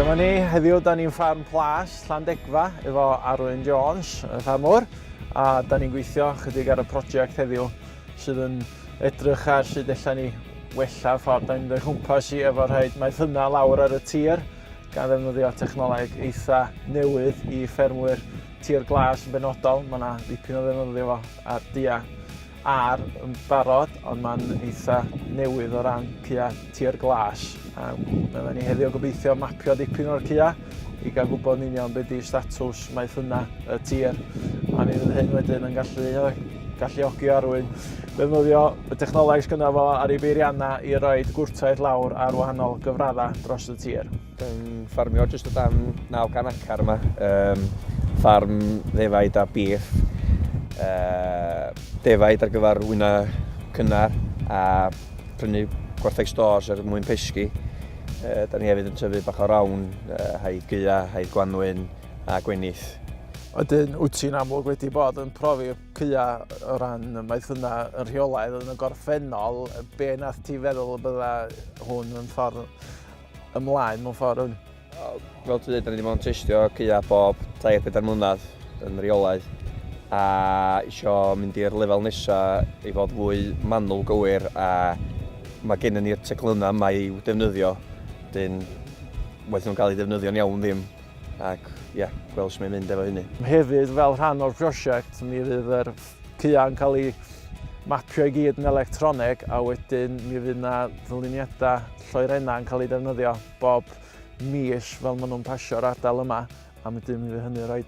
Dyma ni, heddiw da ni'n ffarm plas Llandegfa efo Arwyn Jones, y ffarmwr, a da ni'n gweithio chydig ar y prosiect heddiw sydd yn edrych ar sut allan ni wella ffordd da ni'n mynd o'i chwmpas i efo rhaid maethyna lawr ar y tir. gan ddefnyddio technoleg eitha newydd i ffermwyr tir glas yn benodol. Mae yna ddipyn o ddefnyddio fo ar dia ar yn barod, ond mae'n eitha newydd o ran cya tir glas. Um, mae yna ni heddiw gobeithio mapio dipyn o'r cya i gael gwybod yn union beth di statws maeth hynna y tir. A mi fydd hyn wedyn yn gallu Galluogi Arwyn. Defnyddio y technoleg sydd gyda fo ar ei beiriannau i roi gwrtaith lawr ar wahanol gyfraddau dros y tir. Yn ffarmio jyst o dan 900 acar yma. Um, ffarm ddefaid a bîff. Uh, defaid ar gyfer wyna cynnar a prynu gwartheg stores er mwyn pesgi. Uh, da ni hefyd yn tyfu bach o rawn, uh, haid gyda, haid gwanwyn, a gwenith. Ydyn, wyt ti'n amlwg wedi bod yn profi cya o ran maeth yna yn rheolaidd yn y gorffennol, be nath ti feddwl y bydda hwn yn ffordd ymlaen mewn ffordd hwn? Fel ti'n dweud, da ni wedi bod yn testio cya bob 3-4 mlynedd yn rheolaidd a eisiau mynd i'r lefel nesaf i fod fwy manwl gywir a mae gen ni'r teclynnau yma i'w defnyddio, dyn waeth nhw'n cael eu defnyddio'n iawn ddim. ac ie, gweld sut mae'n mynd efo hynny. Hefyd, fel rhan o'r prosiect, mi fydd yr caeau yn cael ei mapio i gyd yn electroneg a wedyn mi fydd yna ddyluniadau lloerennau yn cael ei defnyddio bob mis fel maen nhw'n pasio'r ardal yma a wedyn mi fydd hynny'n rhoi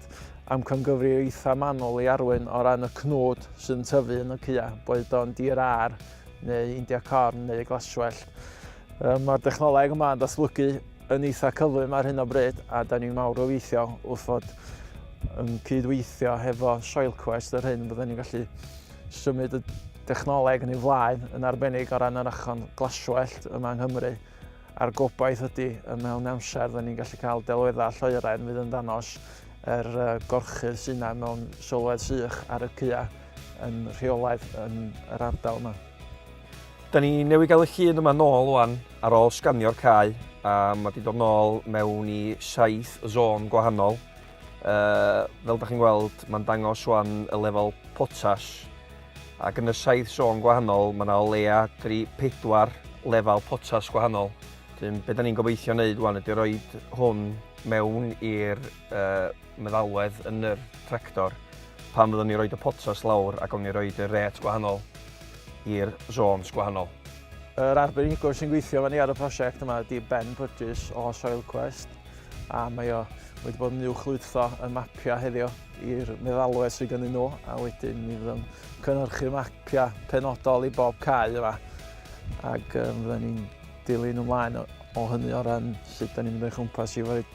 amcangyfri eitha manwl i arwain o ran y cnwd sy'n tyfu yn y caeau, boed o'n dir ar neu India corn neu glaswellt. Mae'r dechnoleg yma yn datblygu yn eitha cyflym ar hyn o bryd a da ni'n mawr obeithio wrth fod yn cydweithio hefo Soilquest yr hyn byddwn ni'n gallu symud y dechnoleg yn ei flaen yn arbennig o ran yr achon glaswellt yma yng Nghymru a'r gobaith ydy y mewn amser byddwn ni'n gallu cael delweddau lloeren fydd yn danos yr er, gorchydd sy'n yna mewn sylwedd sych ar y cya yn rheolaidd yn yr ardal yma. Da ni newydd gael y llun yma nôl wan ar ôl sganio'r cae a mae wedi dod nôl mewn i saith zôn gwahanol. Uh, fel da chi'n gweld, mae'n dangos wan y lefel potas ac yn y saith zôn gwahanol mae yna o leia 3-4 lefel potas gwahanol. Dyn, be da ni'n gobeithio wneud wan ydy rhoi hwn mewn i'r uh, meddalwedd yn yr tractor pan fyddwn ni roed y potas lawr ac o'n ni roed y ret gwahanol i'r zones gwahanol. Yr arbenigwr sy'n gweithio fan ni ar y prosiect yma ydy Ben Burgess o Soilquest a mae o wedi bod yn uwchlwytho y mapiau heddiw i'r meddalwedd sydd gennym nhw a wedyn mi fydd yn cynhyrchu mapiau penodol i bob cae yma ac um, fydden ni'n dilyn ymlaen o, o hynny o ran sut da ni'n mynd o'i chwmpas i fod